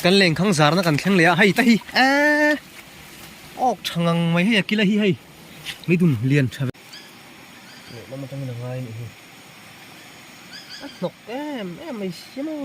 Kan leng khang zar na kan thleng leh a hei ta hi eeh awk tha ngang mai hei a kil a hi hei mi dum lian tha ve leh lam atangin a ngai anih hi a hnawk em em mai sia maw.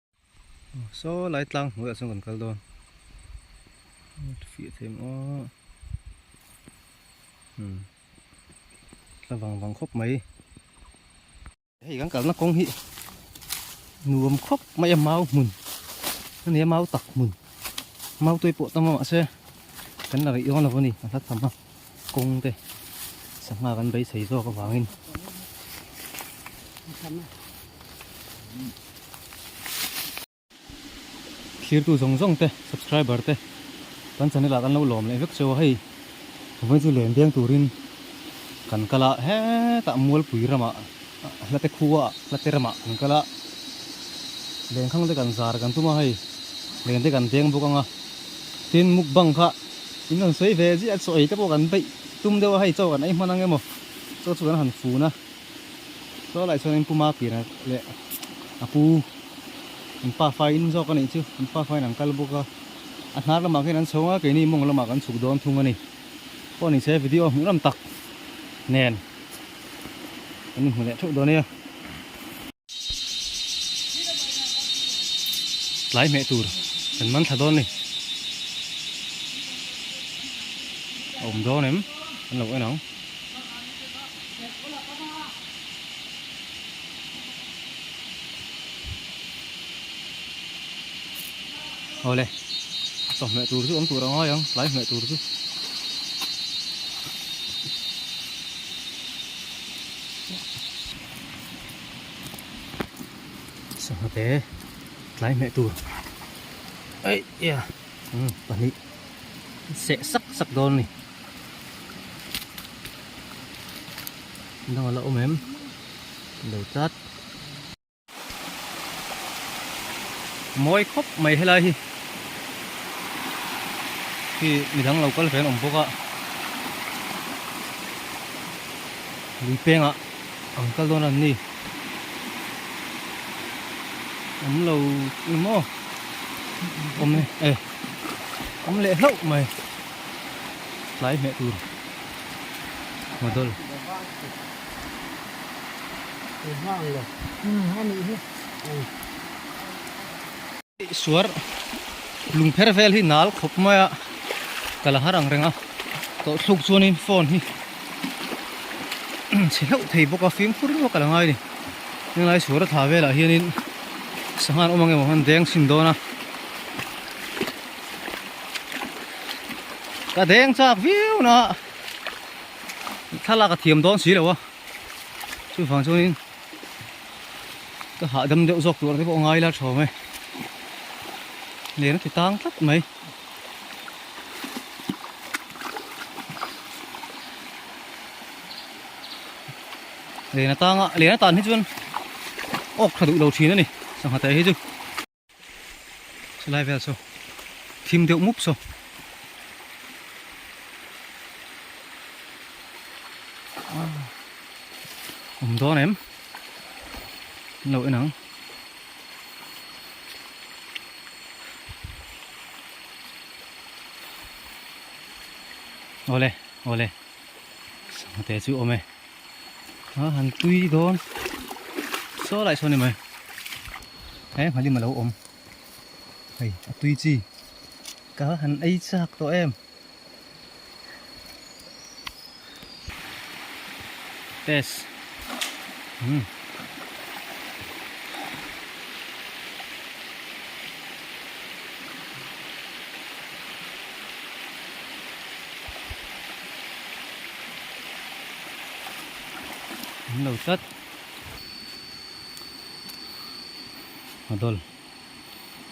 saw lai tlang hnuaiah chuan kan kal dawn fiah theih maw hmm tla vang vang khawp mai hei kan kalna kawng hi nuam khawp mai a mau hmun a nia mau tak hmun mau te pawh ta mahse kan la rih dawn lo a ni a hla tham a. kawng te sangha kan beisei zawk avangin thirtu zawng zawng te subscriber te kan channel ah kan lo lawm leh vek che a hei vawn chu len biang turin kan kal a hetah mualpui ramah. Hlate khua hlate ramah kan kal a, lengkhang te kan zar kan tum a, hei leng te kan deng bawk ang a, tin mukbang kha in rawn sawi ve zia chaw ei te pawh kan beih tum deuh a, hei chaw kan ei hman ang emaw chaw chu kan han fun a, chaw lah chuan in puma pianah leh a pu in pa fai in zawk a nih chu, in pa faiin an kal bawk a, a hnar lamah khian an chho ngai, keini mawng lamah kan chhuk dawn thung a ni, pawh ni che video hmuh lam tak nen. Kan inhmu leh theuh dawn nia. Tlai hmeh tur kan man thla dawn ni. A awm dawn em? Kan lo en ang. Awle, chawh hmeh tur chu awm tur a ngai ang, tlai hmeh tur chu. sangha te tlai hmeh tur ei ya um pahnih seh sak sak dawn a ni dangah la awm em lo tlat. mawi khawp mai helai hi khi mi dang lo kal fel awm bawk a lui peng a ang kal don an ni om lo i mo om le e om le hlo mai tlai me tur model Suar lung pher vel hi nal khawp mai a, ka la harang reng a, tawh thluk chuanin phone hi chhe hlauh thei bawk a, fimkhur rawh ka la ngai a ni, helai suar a tha velah hianin sangha an awm ang emaw han deng chhin dawn a, ka deng chak viau naah. thlalak a thiam dawn si lo a chu vang chuanin ka hahdam deuh zawk tur te pawh a ngai la thawm e len a thitang tlat mai len atanga len atan hi chuan awk tha duh lo thin a ni sangha teh hi chu Chulai vel chu thim deuh mup chu. Um dawn em. Lo en ang. Ole, ole. Sang te chu awm e. han tui dawn saw lai sawn em mai he nghalima lo awm hei a tui chi ka han ei chak tawh em yes hmm. An lo tlat. A dol.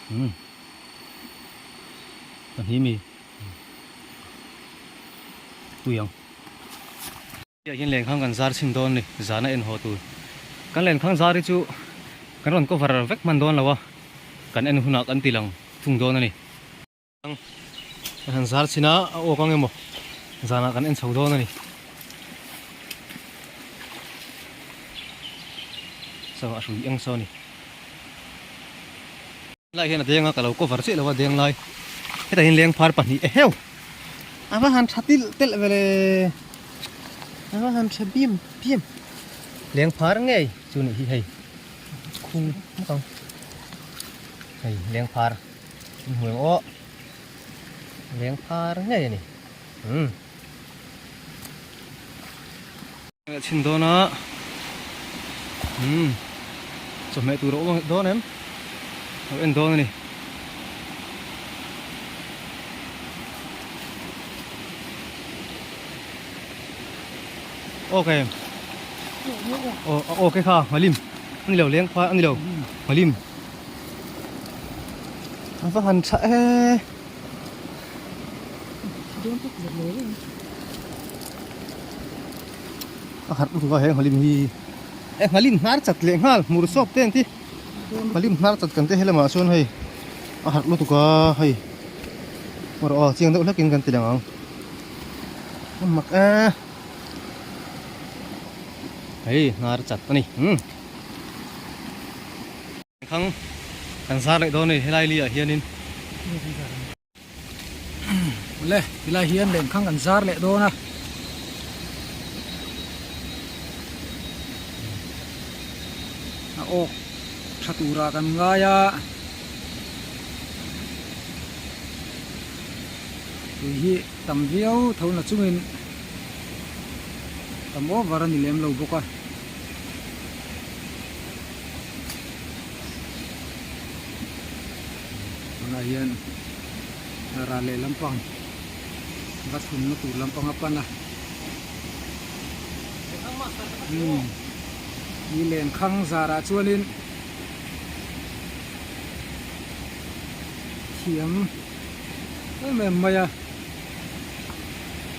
Hmm. Pahnih mi. Pui ang. Tiah hian lenkhang kan zar chhin dawn ni, zana en haw tur. Kan lenkhang zar hi chu kan rawn cover vek hman dawn lo a, kan en hunah kan tih lang thung dawn a ni. Kan han zar chhin a, a awk ang emaw, zanah kan en chho dawn a ni. Saw a hrui eng saw a ni. Lai hian a deng a, ka lo cover chiah lo a deng lai. Heta hian leng phar pahnih e heu! A va han tha tilh telh ve le, a va han tha biam biam. Leng phar ngei chu nih hi hei, khung hmak ang. Hei leng phar. Kan hmu ang aw. Leng phar ngei a ni. Umm. Kan chhin dawn a. Umm. Chawhmeh tur a awm dawn em? Lo en dawn a ni. Awk em? Awk e kha. Hmalim. Ani lo leng phar ani lo. Hmalim. An va han chhah e. Dawng tak zet lo reng. A khat pu thova he nghalin hi. E nghalin hnar chat leh nghal hmur sawp te an ti. Nghalin hnar chat kan te he lamah chuan hei a harh lutuk a hei. Erawh a chiang deuh hlekin kan ti leng ang. Mak e. Hei hnar chat a ni. Khang kan zar leh dawn a ni helai li ah hian in le ti lai hian lem khang kan zar leh dawn a a ok tha tur ah kan ngai a tui hi tam viau tho na chung in tam over a ni lem lo bawk a. tunah hian ral leh lampang bus hûmna tûr lampang a pan a umm i lêngkhâng zârah chuanin thiam em em mai a.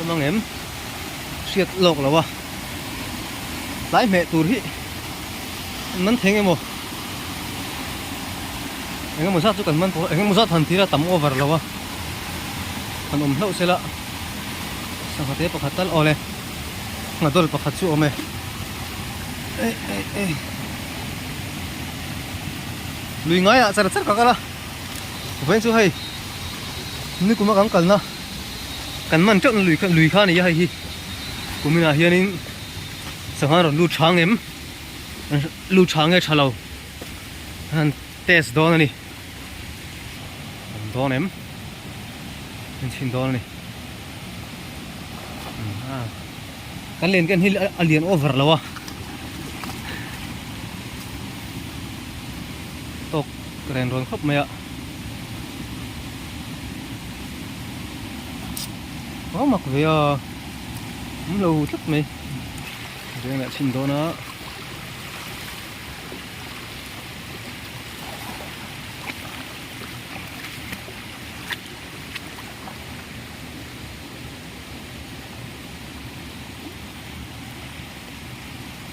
awm ang em hriat lawk lo a tlai hmeh tur hi an man theng emaw eng emaw zat chu kan man pawh eng emaw zat han thira tam over lo a han awm hlauh sela sangha te pakhat tal awle sangha dawlh pakhat chu awm e lui ngaiah chara char ka kal a. Vawin chu hei nikuma kan kalna kan man teuhna lui kha lui kha a ni a hei hi kuminah hianin sangha rawn lut chhang em lut chhang nge tha lo han test dawn a ni kan dawn em kan chhin dawn a ni kan len kan hi a lian over lo a Ka ren rawn khawp mai a. Pau mak ve a. Awm lo tlat mai. Veng leh chhin dawn a.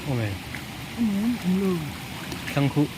Awm e. Awm e. Awm lo. Thlangkhuh.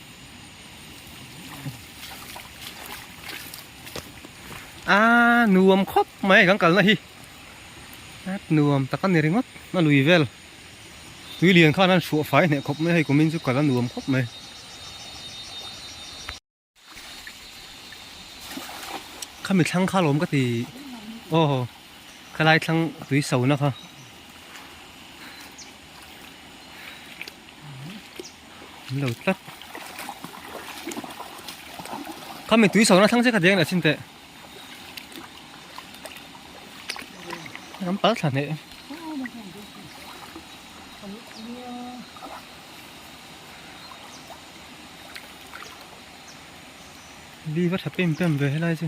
Aa nuam khawp mai kan kalna hi At nuam taka ni ringawt a lui vel Tui lian khan an hruah fai hneh khawp mai hei kumin chu kal a nuam khawp mai Khami thlang kha lawm ka ti Aw khalai thlang tui sauna kha An lo tlat. Khami tui sawna thlang che kha deng la chin te. Ram pal thla ne. Li va thapim pem ve helai chu.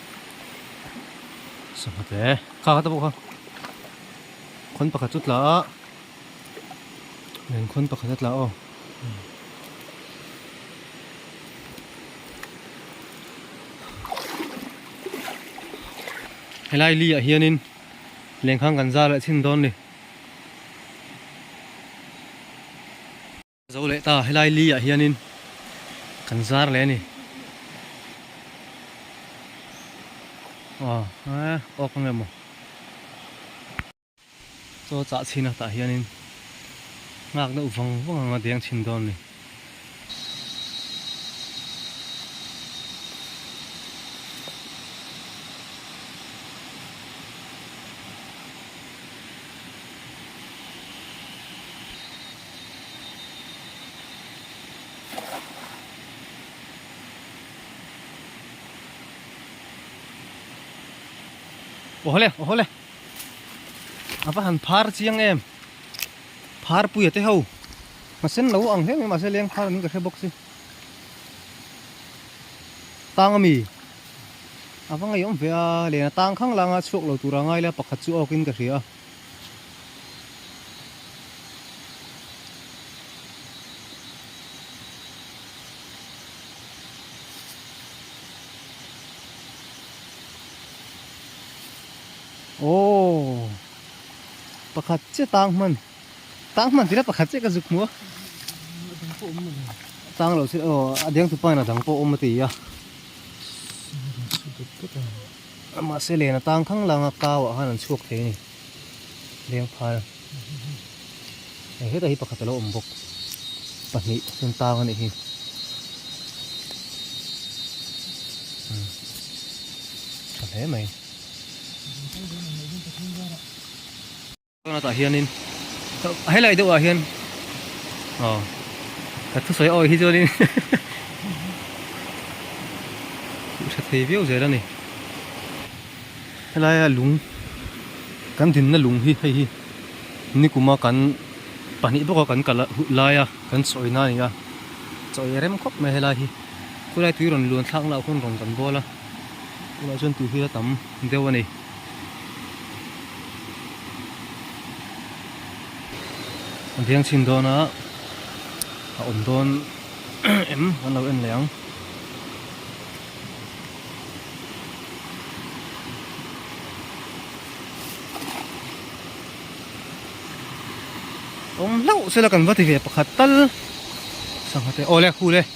Sangha te kha kha te pawh kha khawn pakhat chu tla a nen khawn pakhat a tla aw helai li ah hianin lengkhang kan zar leh chhin dawn ni. Zo leh ta, helai li ah hianin kan zar leh a ni. Aw, a awk ang emaw. Chaw chah chhin a tah hianin nghak deuh vang vang ang a deng chhin dawn a ni. Oho le, oho le. Apa han phar chiang em. Phar puya te ho. Ma sen lo ang hleng ma se leng phar min ka hre bawk si. Tang ami. Apa ngai om ve a, lena tang khang langa chhuak lo tura ngai la pakhat chu awk in ka hria. Aww pakhat che tang man tang man tira pakhat che ka zuk mua tang lo se aw adeng tu pan adang pawh awm a ti a. Mahse len a tang thang lang a, kau ah khan an chhuak thei a ni. Leng phal hei hetah hi pakhat a lo awm bawk. Pahnih chuan tang a nih hi. Tha hle mai. Tuna tah hianin helai deuhah hian aw ka thu sawi awi hi chuanin thu sa thei viau zel a ni helai a lung kan dinna lung hi hei hi nikuma kan pahnih bawka kan kalh laia kan chawina a ni a chawi rem khawp mai helai hi khulai tui rawn luan thlak na hun rawn kan bual a tunah chuan tui hi a tam deuh a ni. a biang chhin dawn a a awm dawn em an lo en leh ang awm hlauh sela kan va ti ve pakhat tal sangha te awle khule.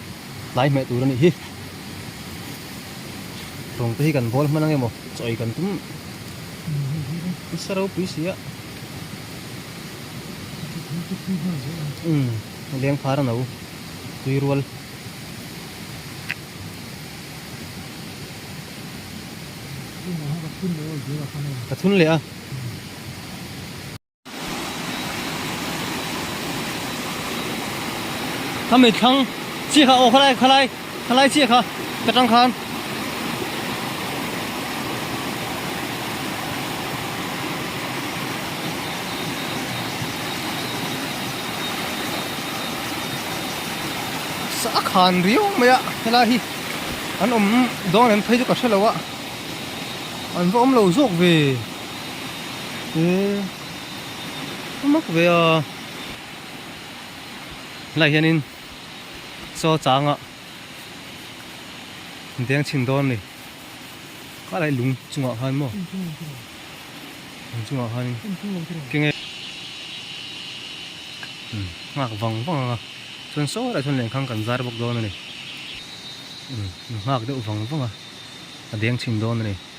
tlai hmeh tur a nih hi. Rawng te hi kan bawl hman angemaw chawi kan tum nasa ropui si a. Umm leng phar a no tui rual. Ka thun leh a. Kha mi thlang chiah kha aw khalai khalai khalai chiah kha ka tang khan sa khan riu mai a hela hi an awm dawn em phei chu ka hre lo a an va awm lo zawk ve. Eee mak ve a, helai hianin chaw changa deng chhin dawn a ni, khah lai lung chungah khan maw, lung chungah khanin kenge nghak vang vang anga chuan saw leh chuan lehkhan kan zar bawk dawn a ni, nghak deuh vang vang a, a deng chhin dawn a ni.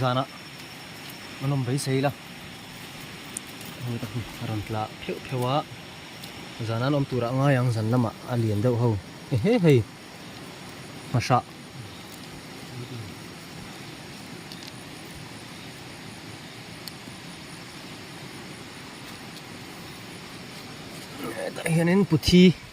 zan a a nawm beisei ila hei ka hmu a rawn tla pheuh pheuh a zan an awm turah ngai ang zan lamah a lian deuh ho ehe hei hmahrah tah hianin puthi.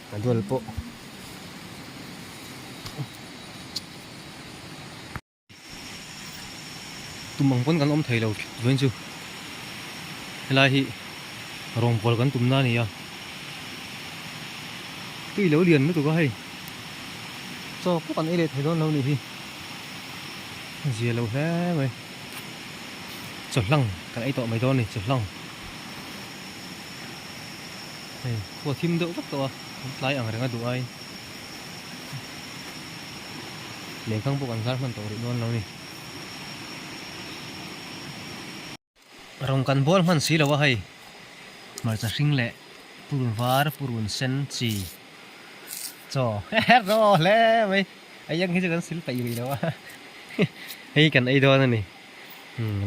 Ka dual pawh. Tum ang pawn kan awm theilo vawiin chu. Helai hi rawngvual kan tum na nia. Tui lo lian lutuk a hei. Chawk pawh kan ei leh thei dawn lo ni hi. Zia lo hle mai. Chawhlang kan ei tawh mai dawn ni, chawhlang. Hei khua thim deuh vak tawh a, an tlai ang reng a duh aiin lehkhang pawh kan zar hman tawh rih dawn lo a ni. Rawn kan bual hman si lo a hei, hmarcha hring leh purun var, purun sen chi chaw rawh hle mai, hei ang hi chu kan sil peih rih lo a, hei kan ei dawn a ni,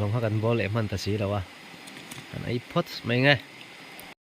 rawng kha kan bual leh hman ta si lo a, kan ei phawt mai nge.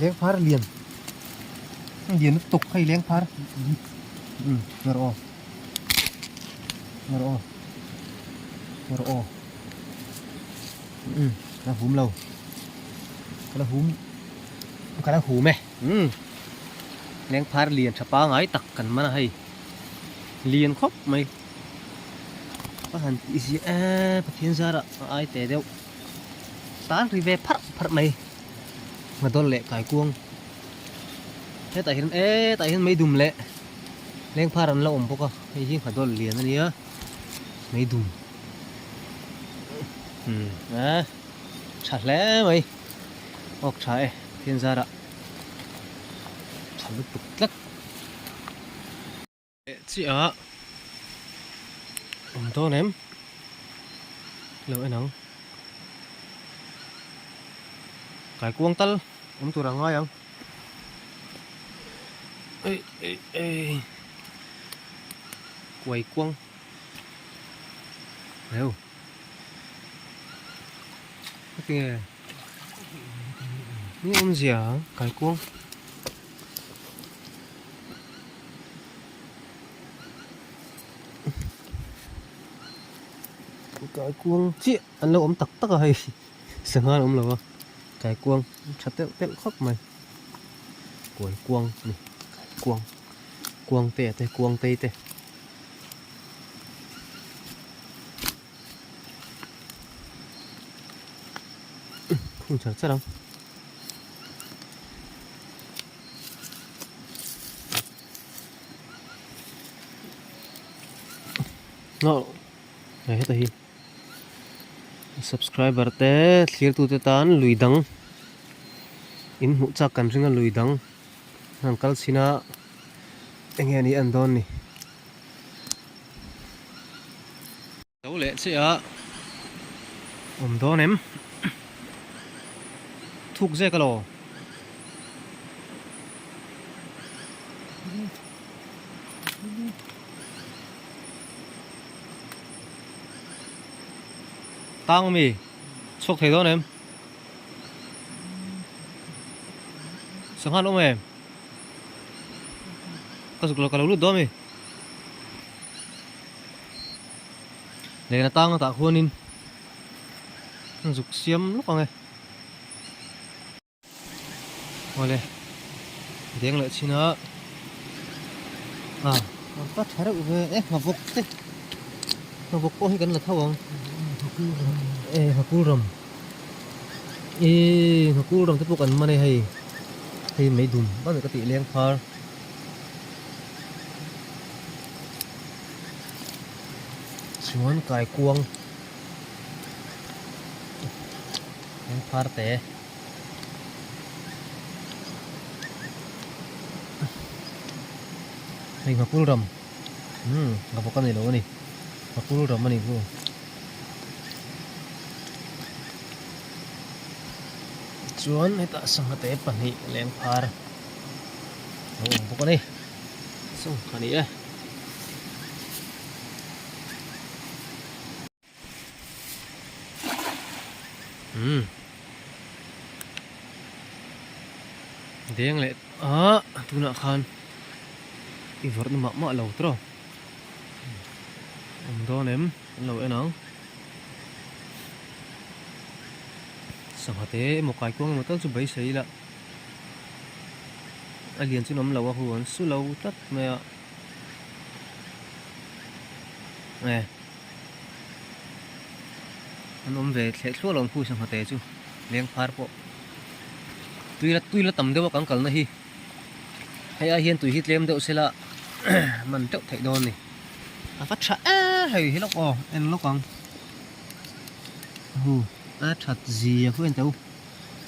leng phar lian lian lutuk hei leng phar um tuna rawh tuna rawh tuna rawh um ka la hum lo ka la hum ka la hum e um leng phar lian tha pangai tak kan man a hei lian khawp mai ka han tih ziah eee pathian zara a ai teh deuh. Tan ri ve pharh pharh mai. Ngadawr leh kaikuang. Hetah hian e tah hian meidum leh lengphar an lo awm bawk a. Hei hi Nghadawr lian a nia. Meidum. Hmm. A. Tha hle mai. Awk tha e. Thianzara. Tha lutuk tlat. Chiah awm dawn em lo en ang kaikuang tal awm tur a ngai ang ei ei ei kaikuang reu heti nge ni awmzia kaikuang kai kuang chiah an lo awm tak tak a hei sangha an awm lo a kai kuang tha telh telh khawp mai kawi kuang a ni kai kuang kuang te te kuang tei te. phun char char ang no he heta hi subscriber te thlir tu te tan lui dang in hmuh chak kan ringa lui dang an kal chhin a enge an ni an dawn ni. Lo leh che a, awm dawn em? Thuk zek alaw. Tang mi, chhawk thei dawn em? Sangha an awm em? Ka zuk lo ka lo lut dawn a mi. Len atang latah khuanin an zuk siam lawk ang e. Aw le, deng leh chhin a. Ah, an ta tha reuh ve e, nghavawk te. Nghavawk pawh hi kan la tho ang. E, nghakulram. Eii hna kul ramte pawh kan man e hei hei mai dun vat ka tih leng phar chuan kaikuang leng phar te hei hna kul ram umm ka bawk a ni lo a ni hna kul ram a ni chu. chuan hetah sangha te pahnih leng phar a awm bawk a ni sangha ni e umm deng leh aah tunah khan i vawrhna mah mah lo trawh. awm dawn em an lo en ang sangha te emaw kaikuang emaw tal chu beisei ila a lian chu nawm lo a hun su lo tlat mai a eh an awm ve thleh thluah lo ang khu sangha te chu leng phar pawh tui la tui la tam deuh a kan kalna hi. Hei a hian tui hi tlem deuh sela man teuh theih dawn ni. A va tha e hei hi lawk aw en lawk ang. Hu a that zia khuh en teuh.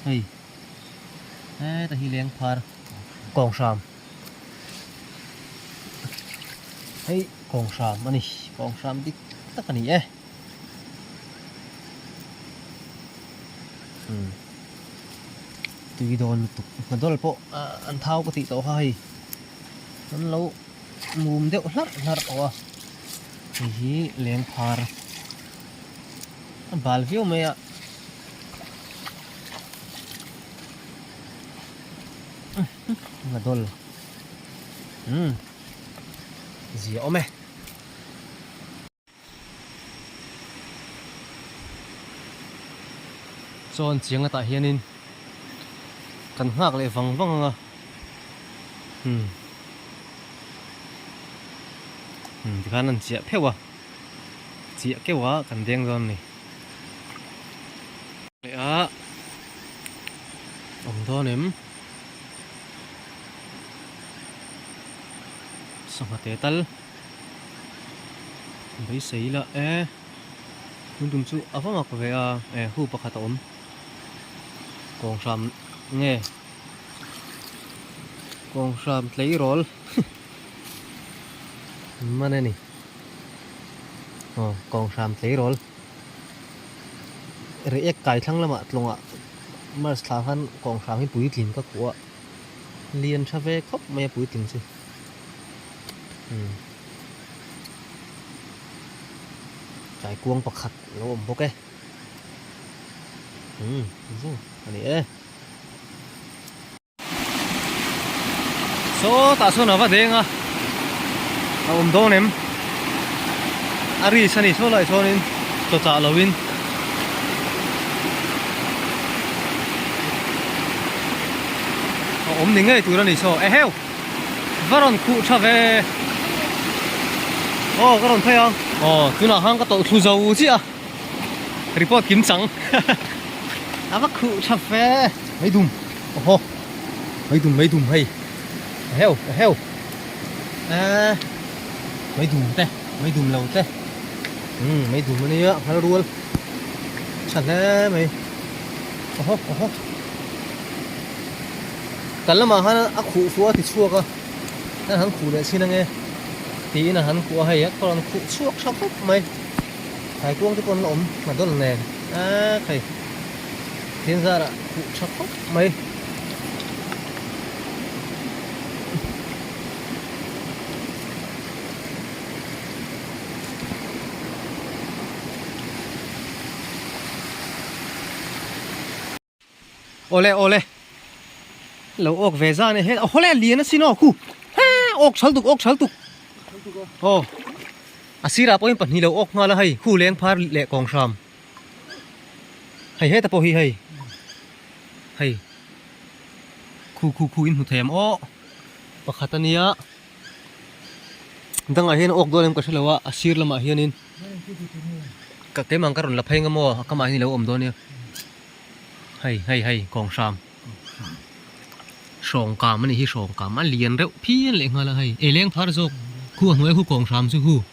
Hei. E ta hi leng phar kawng hram. Hei kawng hram a ni kawng hram dik tak a ni e. tui dawn lutuk hna dawl pawh an thau ka tih tawh kha hei an lo mum deuh hlar hlar tawh a hei hi leng phar a bal viau mai a hna dawl umm zia awm e. Chuan chiang latah hianin kan nghak leh vang vang ang a. Hmm. Hmm, tikhan an chiah pheuh a. Chiah keuh a kan deng dawn a ni. Leh a, awm dawn em? Sawngha te tal. beisei ila e tun tum chu a va mak ve a e hu pakhat a awm kawng hram nge kawng hram tleirawl mane ni aw kawng hram tleirawl reiek kai thlang lamah tlawngah mars thla khan kawng hram hi puitlin ka hmu a. Lian tha ve khawp mai a puitling chu. Hmm. Tlai kuang pakhat lo awm bawk e. Hmm, zu a ni e. Saw tah sawn a va deng a. A awm dawn em? a ris a nih saw laih sawn in chaw chah lo in a awm ni ngei tur a ni saw e heu va rawn khuh tha ve aw ka rawn phei a aw tunah khan ka tawh thlu zo chiah a report kim chang a va khuh tha fe mai dum aww mai dum mai dum hei a heu a heu Eeh mai dum te mai dum lo te umm mai dum ania a nghal rual chha hle mai oho oho kan lamah han a khuh fuh a ti chhuak a nan han khuh leh chhin ange tiin a han khuh a hei pawh an khuh chhuak tha khawp mai thai kuang te pawh an awm ngha dawn nen eeh thei thianzara khuh tha khawp. mai awle awle lo awk ve zan e hel awle lian a sin aw khu he awk chhal tuk awk chhal tuk aw a sirah pawhin pahnih lo awk nghal a hei khu leng phar leh kawng hram Hei heta pawh hi hei, hei khu khu khu in hmu thei ang awh, pakhat a nia dangah hian a awk dawn em ka hre lo a, a sir lamah hian in ka keimang ka rawn la phei ang emaw a kamah hian i lo awm dawn nia, hei hei hei kawng hram, hrawng kam a nih hi hrawng kam a lian reuh phian lehnghal a hei, ei leng phar zawk khu a hnuai a hu kawng hram chu hu.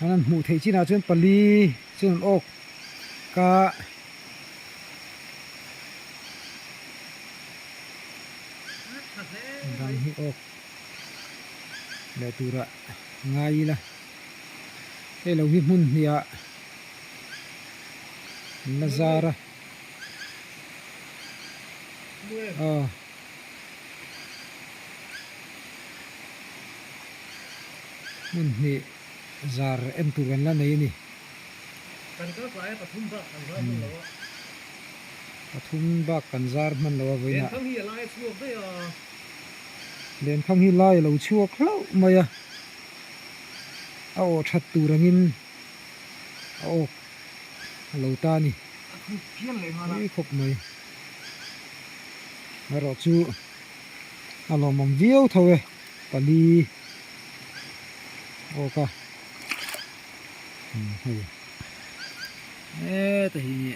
An an hmuh theih chinah chuan pali chuan an awk a bang hi awk leh turah ngai ila hei lo hi hmun hniah an la zar a aw. Hmun hne zar en tur an la nei a ni. Kan zar tlai a pathum bak kan zar hman lo a. Pathum bak kan zar hman lo a vawiin a. Lenphang hi a lai a chhuak daih a. Lenphang hi lai a lo chhuak hlauh mai a. A awh that tur ang in a awk a lo ta a ni. A khuk pian leh nghal a. Ui khawp mai. Erawh chu a lawmawm viau tho e pali awk a hei heta hi nge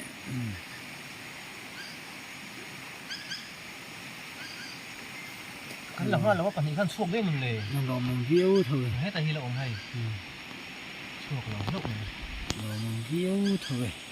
kan la hma lova pahnih khan chhuak viau nun le a lawmawm viau tho e heta hi la awm hei chhuak lo hlauh mai lawmawm viau tho e.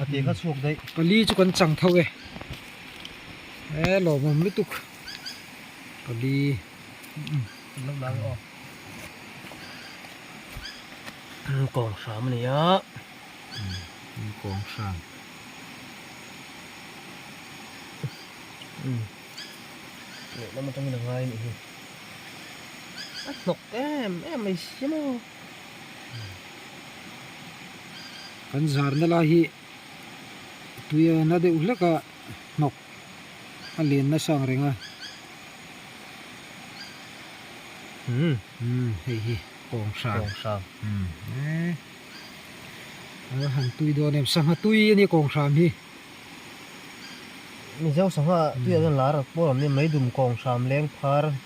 a tih ka chhuak daih pali chu kan chang tho e he lawmawm lutuk pali kan lo la aw kawng hram a ni a kawng hram lehlam atangin a ngai a nih hi a hnawk em em mai si maw. kan zarna lai hi tuia na deuh hleka hnawk a len nasa ang reng a umm umm hei hi kawng hrang kawng hrang umm eee alo han tui dawn em sangha tui a nia kawng hram hi mizo sangha tuiah dawn la a rak pawl ang nia mai dum kawng hram leng phar--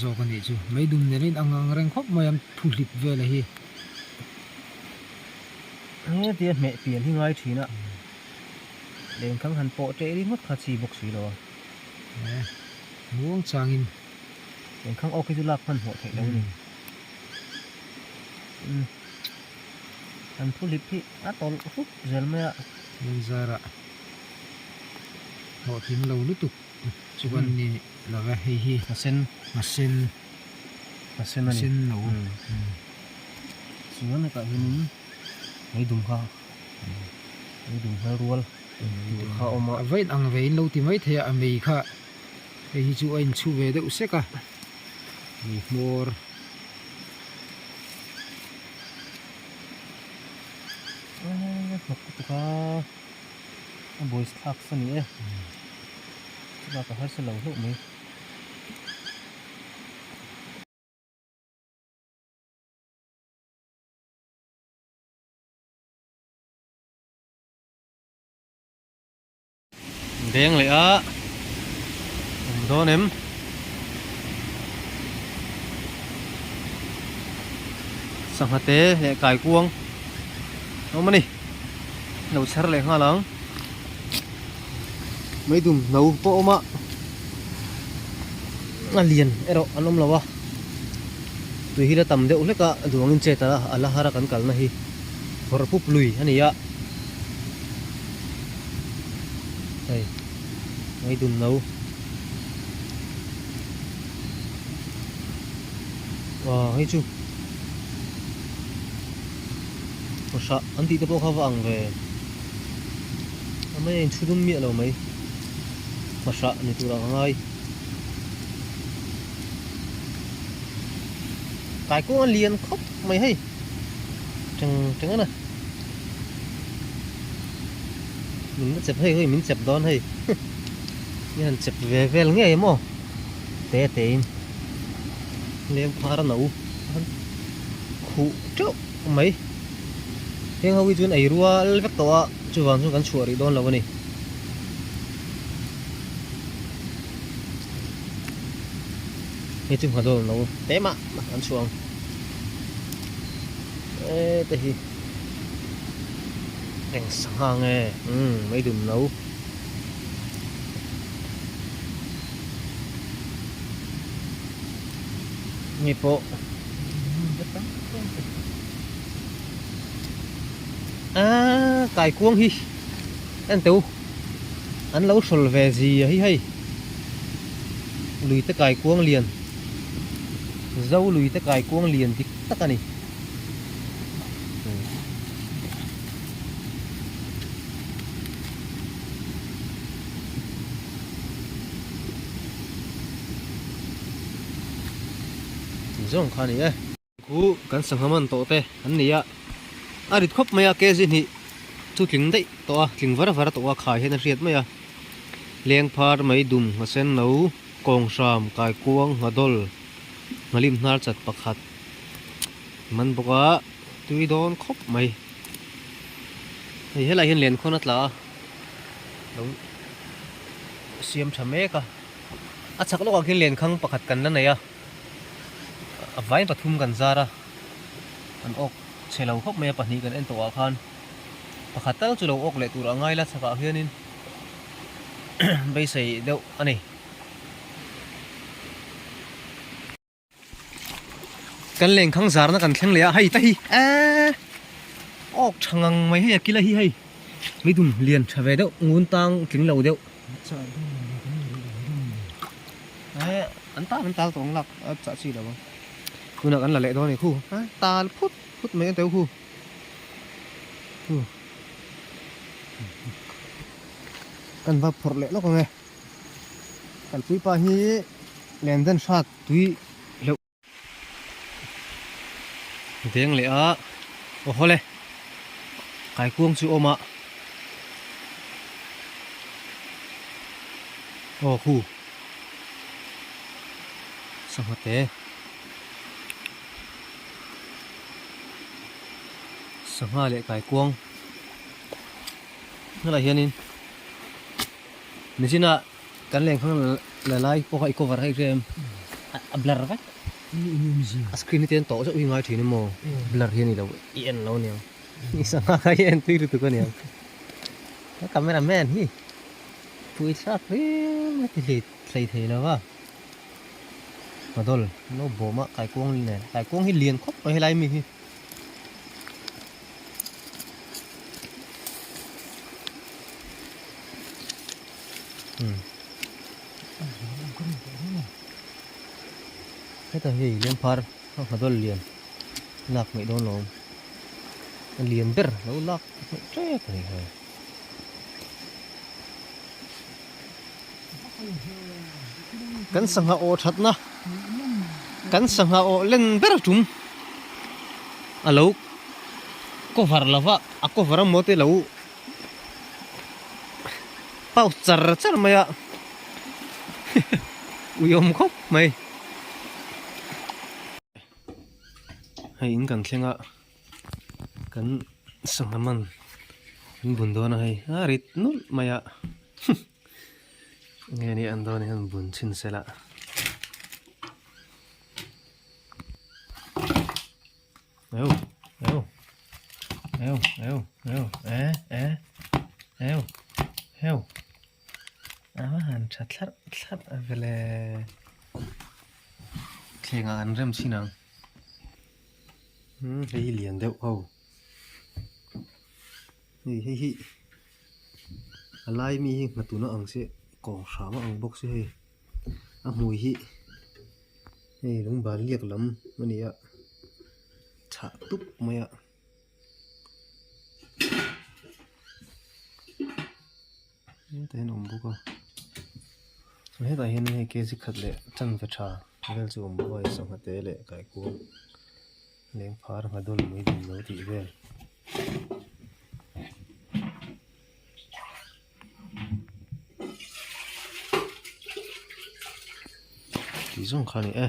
zawk a nih chu mai dum nen in a ngang reng khawp mai a thuhlip vel a hi hetia hmeh pian hi ngai thin a len thang han pawh teh ri ngawt kha chhi bawk si lo a eh muang chang in len thang ok hi chu lak hman hmuh theih lo ni um an thuhlip hi a tawlh hrup zel mai a len zara hlawhtling lo lutuk. Chu an nih lo e hei hi. Hna sen. Hna sen. Hna sen a ni. Hna sen lo. Chuan hetah hianin hei dum kha, hei dum kha rual tur kha a awm a. A vawiin ang ve in lo ti mai thei a, a mei kha hei hi chu a inchhu ve deuh sek a. Mei hmawr. Aa hnawk lutuk a. A boys thlak sa ni e. Chulai ka harsa lo hlauh mai. Deng leh a. Awm dawn em. Sangha te leh kaikuang awm a ni. lo chher leh nghal ang mai dum hno pawh a awm a a lian erawh an awm lo a tui hi la tam deuh hlek a duangin chet a a la har a kan kalna hi phawrh pup lui a ni a hei mai dum hno aw hei chu. Ka hra, an tihte pawh kha va ang ve. Amai a in thu dum miah lo mai. Ka hra ni tur ang a ngai. Kai kawng a lian khawp mai hei. Teng teng ana. Min la chep hei hoi min chep dawn hei. Min han chep ve vel ngei emaw. Te tein. Lem khar a no. Khuh teuh. Khawp mai. Heng ho hi chuan ei rual vek tawh a, chuvang chuan kan chhuah rih dawn lo a ni. Hei chu nghadawl no te mah mah an chhuah ang. E te hi. Eng sangha ang e. Umm mai dum lo. Hei pawh. Aaa kaikuang hi en teu an lo hrawl ve zi a hi hei lui te kaikuang lian zo lui te kaikuang lian dik tak a ni Ti zawng kha ni e. Khu kan sangha man tawh te an ni a, a rit khawp mai a KZ hnih chu tling daih tawh a, tling var var tawh a, khai hian a hriat mai a, Lengphar, Maidum, Nghasenno, Kawngsham, Kaikuang, Nghadol, Nghalim Hnarchat pakhat a man bawk a, tui dawn khawp mai, hei helaiah hian len khawn a tla a, lo siam tha mek a. A chak lawkah khin lenkhang pakhat kan la nei a, a vai pathum kan zar a, an awk chhe lo khawp mai a, pahnih kan en tawh ah khan pakhat tal chu lo awk leh tur a ngai la, chakah hianin beisei deuh a ni. Kan leng khang zar na kan thleng leh a hei ta hi eh ok tha ngang mai hei a kila hi hei mi dum lian tha ve deuh ngun tang tling lo deuh eh an tan an tal tawng lak a chah chi lo tuna kan la leh dawn ni khu tal phut phut mai a deuh khu kan va phawrh leh lawk ang e Kan tuipa hi nen dân hrat tui hleuh. Deng leh a, aw haw le, kaikuang chu awm a. Aw khu, sangha te, sangha leh kaikuang, hnalah hianin. Nizinah kan leng phang la lai pawh kha i cover hek rem a blur vek. A screen hi ten tawh zeuh hi ngai thin em aw blur hi a ni lo i en lo nia. I sangha kha i entui lutuk a nia. He camera man hi pui thlak rim a ti hlit hlei thei lo va. Madol no bawm a kaikuang nen kaikuang hi lian khawp mai helai mi hi. heta hei lem phar a ha dawlh lian lak hmeh dawn lo a lian ber lo lak hmeh tep a ni hei. kan sangha aw thatna kan sangha aw len ber tum a lo cover lo va a cover a maw te lo pau char char mai a ui awm khawp mai hei in kan thleng a. kan sangha man kan bun dawn a hei a rit nulh mai a nge ni an dawn hian bun chhin sela eu eu eu eu eu e e eu eu ama han tha thlar thlar vele thlenga an rem chin ang Hei hi lian deuh ho. Hei hi hi a lai ami hi hna tuna ang chiah kawng hram ang bawk si hei. A hmui hi hei lung ban liak lam a ni a chhah tup mai a. te hian a awm bawk a chuan hetah hian hei kg khat leh chanve tha vel chu a awm bawk a hei sawhkha te leh kaikuang leng phar ngha dawn mai lem lo tih vel tih zawng kha a ni e.